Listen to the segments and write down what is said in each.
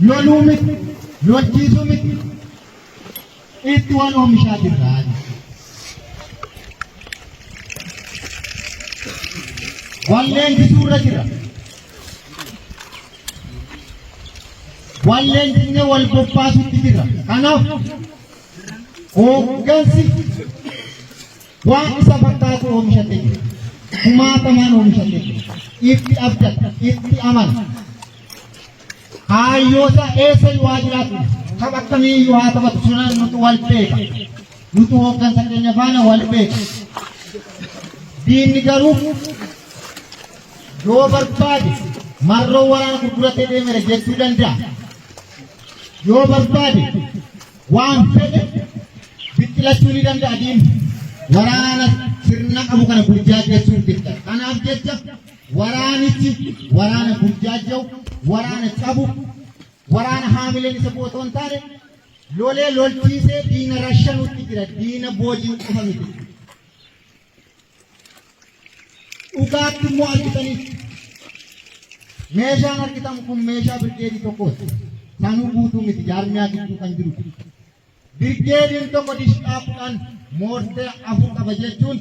loluu miti, lolchiisuu miti. Itti wal oomishaa jirra. Wal leenjisuu irra jira. Wal leenjisnee wal bobbaasutti jira. Kanaaf hooggansi waan isa fakkaatu oomishatee jira. Kumaatamaan oomishatee jira. Itti abdata, itti amana. Kaayyoota eessa yoo haa jiraatu tapha akkamii iyyuu haa taphatu sirnaan nutu wal beeka. Nutu hooggansa keenya faana wal beeka. Diinni garuu yoo barbaade marroo waraana gurguratee deemere jechuu danda'a. Yoo barbaade waan fedhe biqilachuu ni danda'a diinni. Waraana sirna qabu kana burjaajessuuf jecha. Kanaaf jecha Waraanichi waraana burjaajja'u, waraana cabu, waraana haamileen isa bu'u otoo hin taane lolee lolchiisee diina rashanuutti jira. Diina booji'u qofa miti. Dhugaatti immoo argitaniif meeshaan argitamu kun meeshaa birgeedii tokkooti. Sanuu guutuu miti jaarmiyaa gidduu kan jiru. Birgeediin tokko dishqaa 10, moorteer 4 qaba jechuun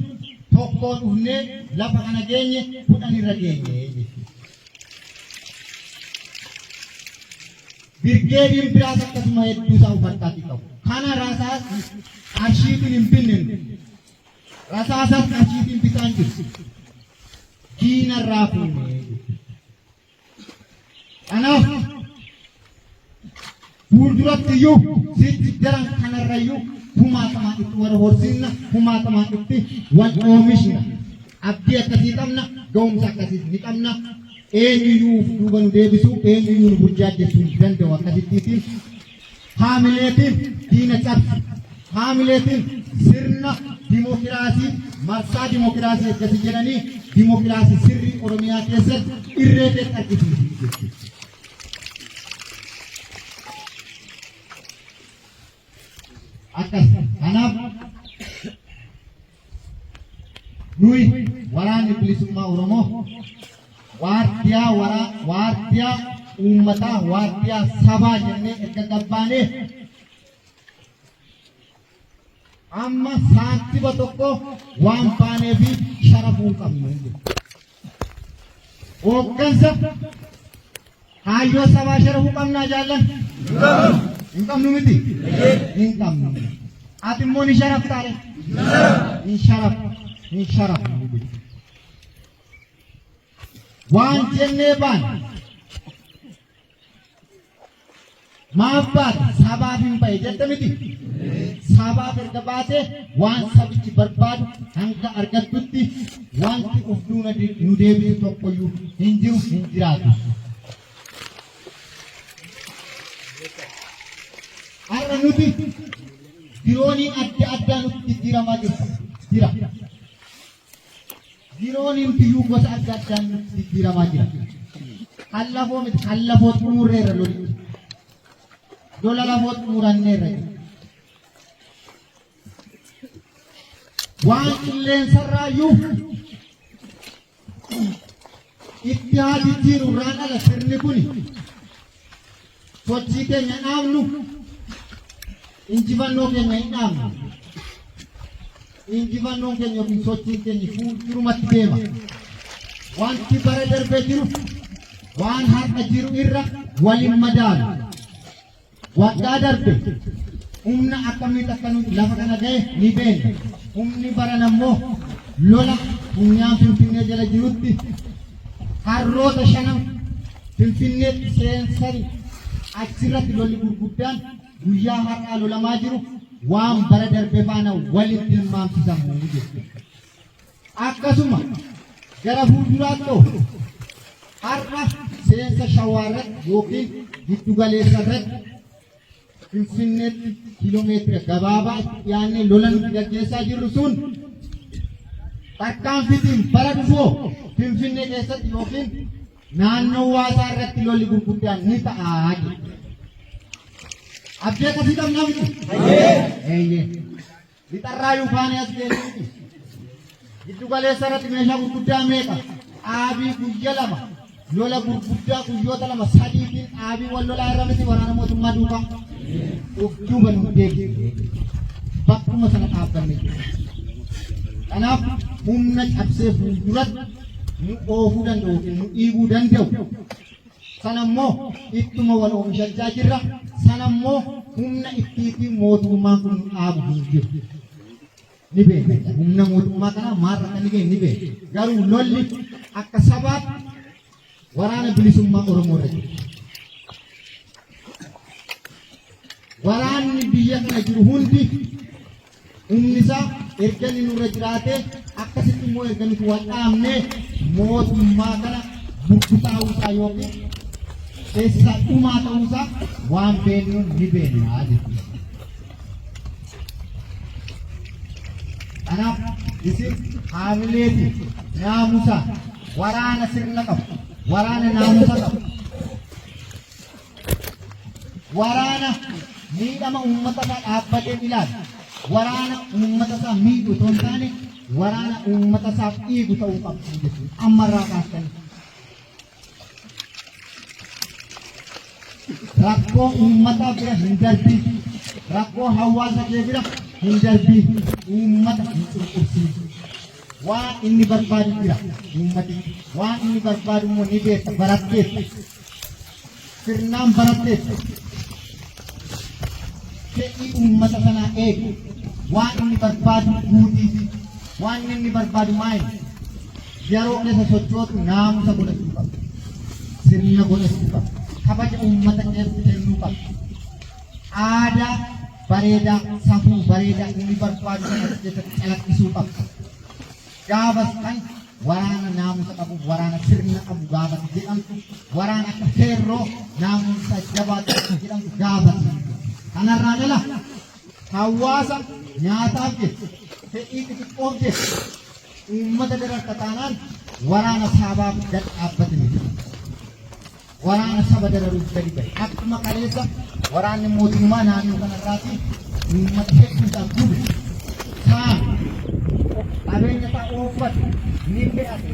tokkoo dhufnee lafa kana geenye 10 irra geenye jechuudha. Birgeediin biraas akkasuma hedduu isaa ufattaatii qabu. Kana rasaas qarshiitiin hin binne nu. Rasaasas qarshiitiin bitaan jiru. Diinarraa fuunee jechuudha. Kanaaf fuulduratti iyyuu sitti daran kanarra iyyuu kumaatamaan itti wal horsiisna, kumaatamaan itti wal oomishna. Abdii akkasii qabna, ga'umsa akkasiis ni qabna. Eenyuyyuu of duuba nu deebisu, eenyuyyuu nu burjaajjessu hin danda'u akkasittiitiin Haamileetiin diina cabsi. Haamileetiin sirna dimokiraasii marsaa dimokiraasii eeggasi jedhanii dimokiraasii sirrii Oromiyaa keessatti irree kee argisiisu jechuudha. Akkas kanaaf Nuyi waraanni bilisummaa Oromoo waardiyaa waraa waardiyaa uummataa waardiyaa sabaa jennee erga gabbaanee amma saantiba tokko waan baanee fi sharafuu qabnu. Hooggansa kaayyoo sabaa sharafuu qabnaa jaallan. Hin qabnu miti. Hin qabnu. Ati immoo ni sharaftaa dha. Hin sharafnu. Hin sharafnu. Waan jennee baana. Maaf baate? Sabaaf hin ba'e jette miti. Sabaaf erga baate waan sabichi barbaadu hanga argattutti wanti of duuna de- nu deebisu tokkoyyuu hin jiru hin jiraatu. Har'a nuti dirooniin adda addaa nutti jijjiiramaa jirtu jira. Yeroon himtiyyuu gosa adda addaan nutti jijjiiramaa jira. Kan lafoo miti kan lafoo xumurreerra loli. Lola lafoo xumuranneerra jira. Waan qilleensarraa iyyuu Ittihaa jijjiiru irraan ala sirni kuni sochii keenya dhaabnu injifannoo keenya hin dhaabnu. Injifannoon keenya yookiin sochiin keenya fuuldurumatti deema. Wanti bara darbee jiru waan har'a jiru irra waliin madaalu. Waggaa darbe humna akkamitti akka nuti lafa kana ga'e ni beekna. Humni baran ammoo lola funyaan Finfinnee jala jirutti harroota shanan Finfinneetti seensanii achirratti lolli gurguddaan guyyaa har'aa lolamaa jiru waan bara darbe faana walitti tilmaamsisamu jechuudha. Akkasuma gara fuulduraatto har'a seensa Shawaa irratti ykn giddu galeessa irratti Finfinneetti kiilomeetira gabaabaa itti dhiyaannee lola nuti gaggeessaa jirru sun tarkaanfitiin bara dhufoo Finfinnee keessatti ykn naannoo waasaa irratti lolli gurguddaan ni ta'a jedhu. Abdii akkasii qabnaa miti? Eeyyee. Lixarraa Yuufaanii as geessuuti. Giddu galeessa irratti meeshaa gurguddaa meeqa? Dhaabii guyya lama. Lola gurguddaa guyyoota lama sadiitiin dhaabii wal lolaa irra miti waraana mootummaa duukaa. Of duuba nu deebi'e. Bakkuma sana dhaabbanne jira. Kanaaf humna cabsee fuulduratti nu oofuu danda'u yookiin nu dhiibuu danda'u Sana immoo ittuma wal oomishachaa jirra. Sana immoo humna ittiitiin mootummaan kun nu dhaabu hin jiru. Ni beekna. Humna mootummaa kanaa maal irratti ni ga'e ni beekna. Garuu lolli akka sabaatti waraana bilisummaa Oromoo irra jira. Waraanni biyya kana jiru hundi Humni isaa erga inni nurra jiraatee akkasitti immoo erga nuti wal dhaabnee mootummaa kana burkutaa'uu isaa yookiin keessa dhumaa ta'uu isaa waan beeknuun ni beekna jechuudha. Kanaaf isin haamileeti naamusa waraana sirna qabu waraana naamusa qabu Waraana miidhama uummata isaa dhaabbatee ilaalu, waraana uummata isaa miidhu osoo hin taane waraana uummata isaaf dhiigu ta'uu qabdu jechuudha. Ammarraa kaastanii. Rakkoo uummataa bira hin darbiin, rakkoo hawaasa kee bira hin darbiin, uummata hin cunqursiisu. Waan inni barbaadu jira uummati. Waan inni barbaadu immoo ni beekta baratteetta. sirnaan baratteetta. Fedhii uummata kanaa eegu. Waan inni barbaadu guutiif. Waan inni barbaadu maali? Yeroo keessa sochootu naamusa godhachuu qaba. Sirna godhachuu qaba. Kabaja uummata keef kennuu qaba. Aadaa bareedaa, safuu bareedaa inni barbaadu kan as keessatti calaqqisuu qaba. Gaafas kan waraana naamusa qabu, waraana sirna qabu gaafas jedhamtu, waraana akka feerroo naamusa jabaa qabu jedhamtu gaafas hin jiru. Kanarraan ala hawaasa nyaataaf jecha, fedhii xixiqqoof jecha uummata dararta taanaan waraana saabaaf gad dhaabbate miti. waraana saba dararuuf gadi ba'e. Akkuma kaleessa waraanni mootummaa naannoo kanarraati uummata hedduu isaa gube. Saame. Qabeenya isaa ooffate. Ni fe'ate.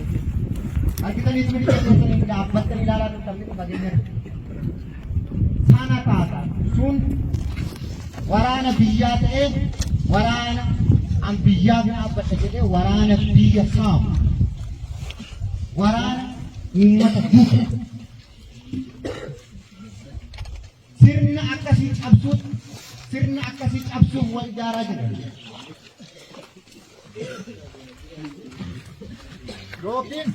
Argitaniis miti keessanii dhaabbattanii ilaalaa turtan miti fageenya irra. Sana taata. Sun waraana biyyaa ta'ee waraana an biyyaaf dhaabbadha jedhee waraana biyya saamu. waraana uummata buusa. Sirna akkasii cabsuuf sirna akkasii cabsuuf wal ijaaraa jira. Yookiin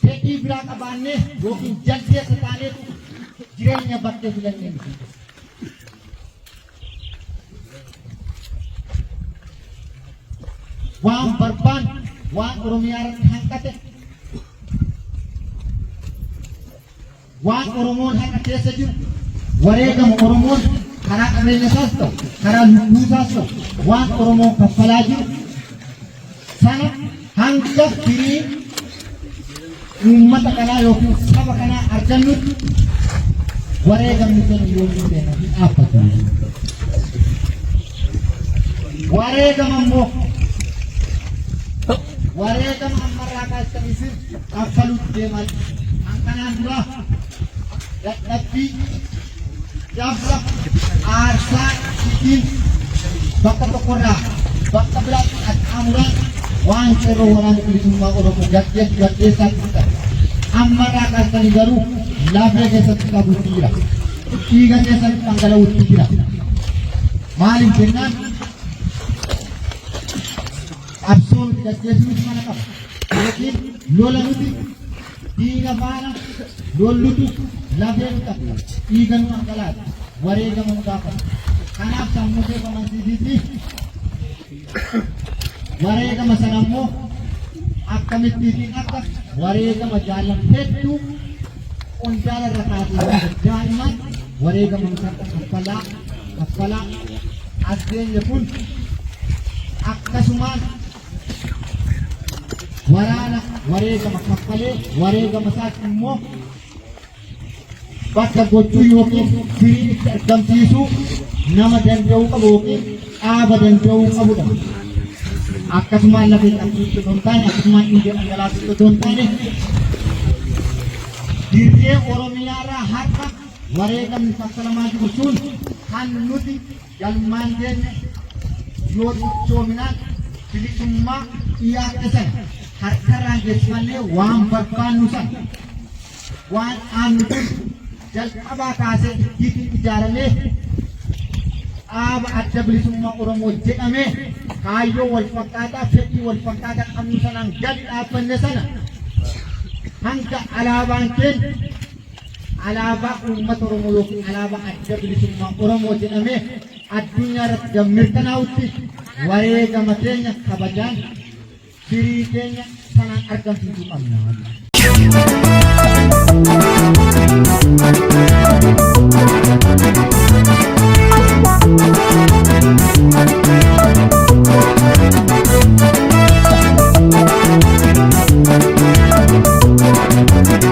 fedhii biraa qabaannee yookiin jaldeessa taaneetu jireenya bakkee filannee miti. waan barbaan waan oromiyaa irratti hanqate waan oromoon har'a keessa jiru wareegama oromoon karaa qabeenya isaas ta'u karaa lubbuu isaas ta'u waan oromoon kaffalaa jiru sana hanga firii uummata kanaa yookiin saba kanaa argannutti wareegamni keenya yoo hin beekan hin dhaabbatu. Wareegama immoo wareegama ammarraa kaastan isin kaffaluutti deeman kan kanaan duraa dadhabbii Gaafficha aarsaa ittiin bakka tokkorraa bakka biraatti qaxxaamuraan waan qeerroo waraana bilisummaa Oromoo gaggeessu gaggeessaa turtan. Ammarraa kaastanii garuu lafee keessatti qabuutti jira. Dhiiga keessatti dhangala'uutti jira. Maaliif jennaan qabsoo nuti gaggeessu nuti mana qaba. Yookiin lola nuti Diina faana lollutu lafee fixata, dhiiga nu dhangalaasa, wareegama nu gaafata. Kanaaf sammuu kee of amansiisiitii wareegama sana immoo akkamitti fi akka wareegama jaallan hedduu qondaala irra kaasee daa'imaan wareegama nu takka kaffalaa kaffalaa as geenye kun akkasumaan waraana wareegama kaffalee wareegama isaatti immoo bakka gochuu yookiin firii itti argamsiisuu nama danda'uu qabu yookiin dhaaba danda'uu qabudha. Akkasumaan lafa hin qabsiisu osoo hin taane akkasumaan dhiiga dhangalaasuu osoo hin taane dirree Oromiyaarraa har'a wareegamni kaffalamaa jiru sun kan nuti Galmaan keenya yoo cichoominaan bilisummaa dhiyaadhe sana harkarraan geessifannee waan barbaannu sana waan dhaabnu dur jalqabaa kaasee ittiitiin ijaaramee dhaaba adda bilisummaa Oromoo jedhamee kaayyoo wal fakkaataa fedhii wal fakkaataa qabnu sanaan gadi dhaabbanne sana hanga alaabaan keenya Alaabaa uummata Oromoo yookiin alaabaa adda bilisummaa Oromoo jedhamee addunyaa irratti gad mirkanaa'utti wareegama keenya kabajaan firii keenya sanaan argamsiisuu qabna.